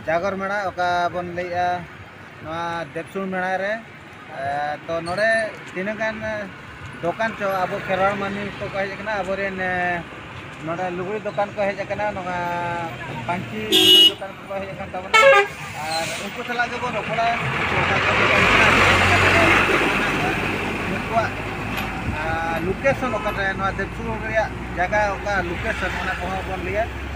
ᱡᱟᱜᱚᱨ ᱢᱮᱲᱟ ᱚᱠᱟ ᱵᱚᱱ ᱞᱟᱹᱭᱮᱜᱼᱟ ᱱᱚᱣᱟ ᱫᱮᱵᱥᱩᱲ ᱢᱮᱲᱟ ᱨᱮ ᱛᱚ ᱱᱚᱰᱮ ᱛᱤᱱᱟᱹᱜ ᱜᱟᱱ ᱫᱚᱠᱟᱱ ᱪᱚ ᱟᱵᱚ ᱠᱷᱮᱨᱣᱟᱲ ᱢᱟᱹᱱᱢᱤ ᱠᱚ ᱦᱮᱡ ᱟᱠᱟᱱᱟ ᱟᱵᱚᱨᱮᱱ ᱱᱚᱰᱮ ᱞᱩᱜᱽᱲᱤ ᱫᱚᱠᱟᱱ ᱠᱚ ᱦᱮᱡ ᱟᱠᱟᱱᱟ ᱱᱚᱣᱟ ᱯᱟᱹᱧᱪᱤ ᱫᱚᱠᱟᱱ ᱠᱚ ᱦᱮᱡ ᱟᱠᱟᱱ ᱛᱟᱵᱚᱱᱟ ᱟᱨ ᱩᱱᱠᱩ ᱥᱟᱞᱟᱜ ᱜᱮᱵᱚᱱ ᱨᱚᱯᱚᱲᱟ ᱩᱱᱠᱩᱣᱟᱜ ᱞᱳᱠᱮᱥᱚᱱ ᱚᱠᱟᱨᱮ ᱱᱚᱣᱟ ᱫᱮᱵᱥᱩᱲ ᱨᱮᱭᱟᱜ ᱡᱟᱭᱜᱟ ᱚᱠᱟ ᱞᱳᱠᱮᱥᱚᱱ ᱚᱱᱟ ᱠᱚᱦᱚᱸ ᱵᱚᱱ ᱞᱟᱹᱭᱟ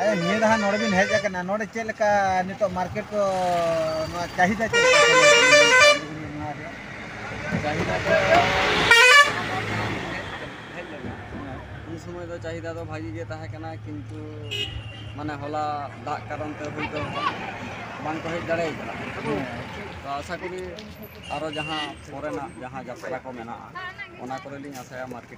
ᱟᱫᱚ ᱱᱤᱭᱟᱹ ᱫᱷᱟᱣ ᱱᱚᱰᱮ ᱵᱤᱱ ᱦᱮᱡ ᱟᱠᱟᱱᱟ ᱱᱚᱰᱮ ᱪᱮᱫ ᱞᱮᱠᱟ ᱱᱤᱛᱚᱜ ᱢᱟᱨᱠᱮᱴ ᱠᱚ ᱱᱚᱣᱟ ᱪᱟᱦᱤᱫᱟ ᱪᱮᱫ ᱞᱮᱠᱟ ᱪᱟᱦᱤᱫᱟ ᱫᱚ ᱩᱱ ᱥᱚᱢᱚᱭ ᱫᱚ ᱪᱟᱦᱤᱫᱟ ᱫᱚ ᱵᱷᱟᱜᱤ ᱜᱮ ᱛᱟᱦᱮᱸ ᱠᱟᱱᱟ ᱠᱤᱱᱛᱩ ᱢᱟᱱᱮ ᱦᱚᱞᱟ ᱫᱟᱜ ᱠᱟᱨᱚᱱ ᱛᱮ ᱦᱚᱭᱛᱳ ᱵᱟᱝ ᱠᱚ ᱦᱮᱡ ᱫᱟᱲᱮ ᱠᱟᱱᱟ ᱛᱚ ᱟᱥᱟ ᱠᱚᱨᱤ ᱟᱨᱚ ᱡᱟᱦᱟᱸ ᱯᱚᱨᱮᱱᱟᱜ ᱡᱟᱦᱟᱸ ᱡᱟᱛᱨᱟ ᱠᱚ ᱢᱮᱱᱟᱜᱼᱟ ᱚᱱᱟ ᱠᱚᱨᱮ ᱞᱤᱧ ᱟᱥᱟᱭᱟ ᱢᱟᱨᱠᱮᱴ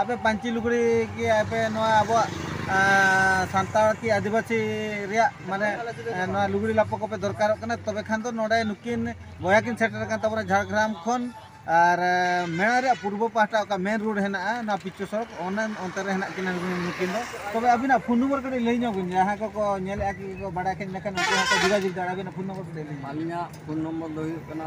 ᱟᱯᱮ ᱯᱟᱹᱧᱪᱤ ᱞᱩᱜᱽᱲᱤ ᱜᱮ ᱟᱯᱮ ᱱᱚᱣᱟ ᱟᱵᱚᱣᱟᱜ ᱥᱟᱱᱛᱟᱲ ᱠᱤ ᱟᱹᱫᱤᱵᱟᱹᱥᱤ ᱨᱮᱭᱟᱜ ᱢᱟᱱᱮ ᱱᱚᱣᱟ ᱞᱩᱜᱽᱲᱤ ᱞᱟᱯᱚ ᱠᱚᱯᱮ ᱫᱚᱨᱠᱟᱨᱚᱜ ᱠᱟᱱᱟ ᱛᱚᱵᱮ ᱠᱷᱟᱱ ᱫᱚ ᱱᱚᱰᱮ ᱱᱩᱠᱤᱱ ᱵᱚᱭᱦᱟ ᱠᱤᱱ ᱥᱮᱴᱮᱨ ᱟᱠᱟᱱ ᱛᱟᱵᱚᱱᱟ ᱡᱷᱟᱲᱜᱨᱟᱢ ᱠᱷᱚᱱ ᱟᱨ ᱢᱮᱬᱟ ᱨᱮᱭᱟᱜ ᱯᱩᱨᱵᱚ ᱯᱟᱦᱴᱟ ᱚᱠᱟ ᱢᱮᱱ ᱨᱳᱰ ᱦᱮᱱᱟᱜᱼᱟ ᱱᱚᱣᱟ ᱯᱤᱪᱩ ᱥᱚᱲᱚᱠ ᱚᱱᱟ ᱚᱱᱛᱮ ᱨᱮ ᱦᱮᱱᱟᱜ ᱠᱤᱱᱟ ᱱᱩᱠᱤᱱ ᱫᱚ ᱛᱚᱵᱮ ᱟᱹᱵᱤᱱᱟᱜ ᱯᱷᱳᱱ ᱱᱚᱢᱵᱚᱨ ᱠᱟᱹᱴᱤᱡ ᱞᱟᱹᱭ ᱧᱚᱜ ᱵᱤᱱ ᱡᱟᱦᱟᱸ ᱠᱚᱠᱚ ᱧᱮᱞᱮᱫᱼᱟ ᱠᱤ ᱠᱚ ᱵᱟᱰᱟᱭ ᱠᱷᱟᱱ ᱤᱱᱟᱹᱠᱷᱟᱱ ᱩᱱᱠᱩ ᱦᱚᱸᱠᱚ ᱡᱳᱜᱟᱡᱳᱜᱽ ᱫᱟᱲᱮᱭᱟᱜᱼᱟ ᱟᱹᱵᱤᱱᱟᱜ ᱯᱷᱳᱱ ᱱᱚᱢᱵᱚᱨ ᱠᱟᱹᱴᱤᱡ ᱞᱟᱹᱭ ᱵᱤᱱ ᱟᱹᱞᱤᱧᱟᱜ ᱯᱷᱳᱱ ᱱᱚᱢᱵᱚᱨ ᱫᱚ ᱦᱩᱭᱩᱜ ᱠᱟᱱᱟ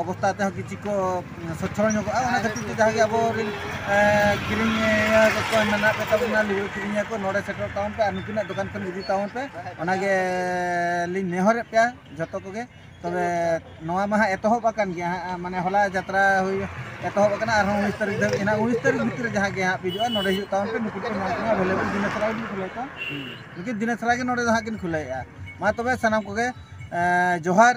ᱚᱵᱚᱥᱛᱟ ᱛᱮᱦᱚᱸ ᱠᱤᱪᱷᱩ ᱠᱚ ᱥᱚᱪᱷᱚᱞ ᱧᱚᱜᱚᱜᱼᱟ ᱚᱱᱟ ᱠᱷᱟᱹᱛᱤᱨ ᱛᱮ ᱡᱟᱦᱟᱸ ᱜᱮ ᱟᱵᱚ ᱨᱮᱱ ᱠᱤᱨᱤᱧᱤᱭᱟᱹ ᱠᱚ ᱢᱮᱱᱟᱜ ᱠᱚ ᱛᱟᱵᱚᱱᱟ ᱞᱩᱜᱽᱲᱤ ᱠᱤᱨᱤᱧᱤᱭᱟᱹ ᱠᱚ ᱱᱚᱰᱮ ᱥᱮᱴᱮᱨᱚᱜ ᱛᱟᱵᱚᱱ ᱯᱮ ᱟᱨ ᱱᱩᱠᱤᱱᱟᱜ ᱫᱚᱠᱟᱱ ᱠᱷᱚᱱ ᱤᱫᱤ ᱛᱟᱵᱚᱱ ᱯᱮ ᱚᱱᱟᱜᱮ ᱞᱤᱧ ᱱᱮᱦᱚᱨᱮᱫ ᱯᱮᱭᱟ ᱡᱚᱛᱚ ᱠᱚᱜᱮ ᱛᱚᱵᱮ ᱱᱚᱣᱟ ᱢᱟ ᱦᱟᱸᱜ ᱮᱛᱚᱦᱚᱵ ᱟᱠᱟᱱ ᱜᱮᱭᱟ ᱦᱟᱸᱜ ᱢᱟᱱᱮ ᱦᱚᱞᱟ ᱡᱟᱛᱨᱟ ᱦᱩᱭ ᱮᱛᱚᱦᱚᱵ ᱟᱠᱟᱱᱟ ᱟᱨᱦᱚᱸ ᱩᱱᱤᱥ ᱛᱟᱹᱨᱤᱠᱷ ᱫᱷᱟᱹᱵᱤᱡ ᱦᱮᱱᱟᱜ ᱩᱱᱤᱥ ᱛᱟᱹᱨᱤᱠᱷ ᱵᱷᱤᱛᱨᱤ ᱡᱟᱦᱟᱸ ᱜᱮ ᱦᱟᱸᱜ ᱦᱤᱡᱩᱜᱼᱟ ᱱᱚᱰᱮ ᱦᱤᱡᱩᱜ ᱛᱟᱵᱚᱱ ᱯᱮ ᱱᱩᱠᱩ ᱠᱚ ᱧᱟᱢ ᱠᱚᱣᱟ ᱮᱵᱮᱞᱮᱵᱮᱞ ᱫᱤᱱᱮ ᱥᱟᱨᱟ ᱜᱮᱞᱤᱧ ᱠᱷᱩᱞᱟᱹᱣ ᱠᱚᱣᱟ ᱱᱩᱠᱤᱱ ᱫᱤᱱᱮ ᱥᱟᱨᱟ ᱜᱮ ᱱᱚᱰᱮ ᱫᱚ ᱦᱟᱸᱜ ᱠᱤᱱ ᱠᱷᱩᱞᱟᱹᱣᱮᱫᱼᱟ ᱢᱟ ᱛᱚᱵᱮ ᱥᱟᱱᱟᱢ ᱠᱚᱜᱮ ᱡᱚᱦᱟᱨ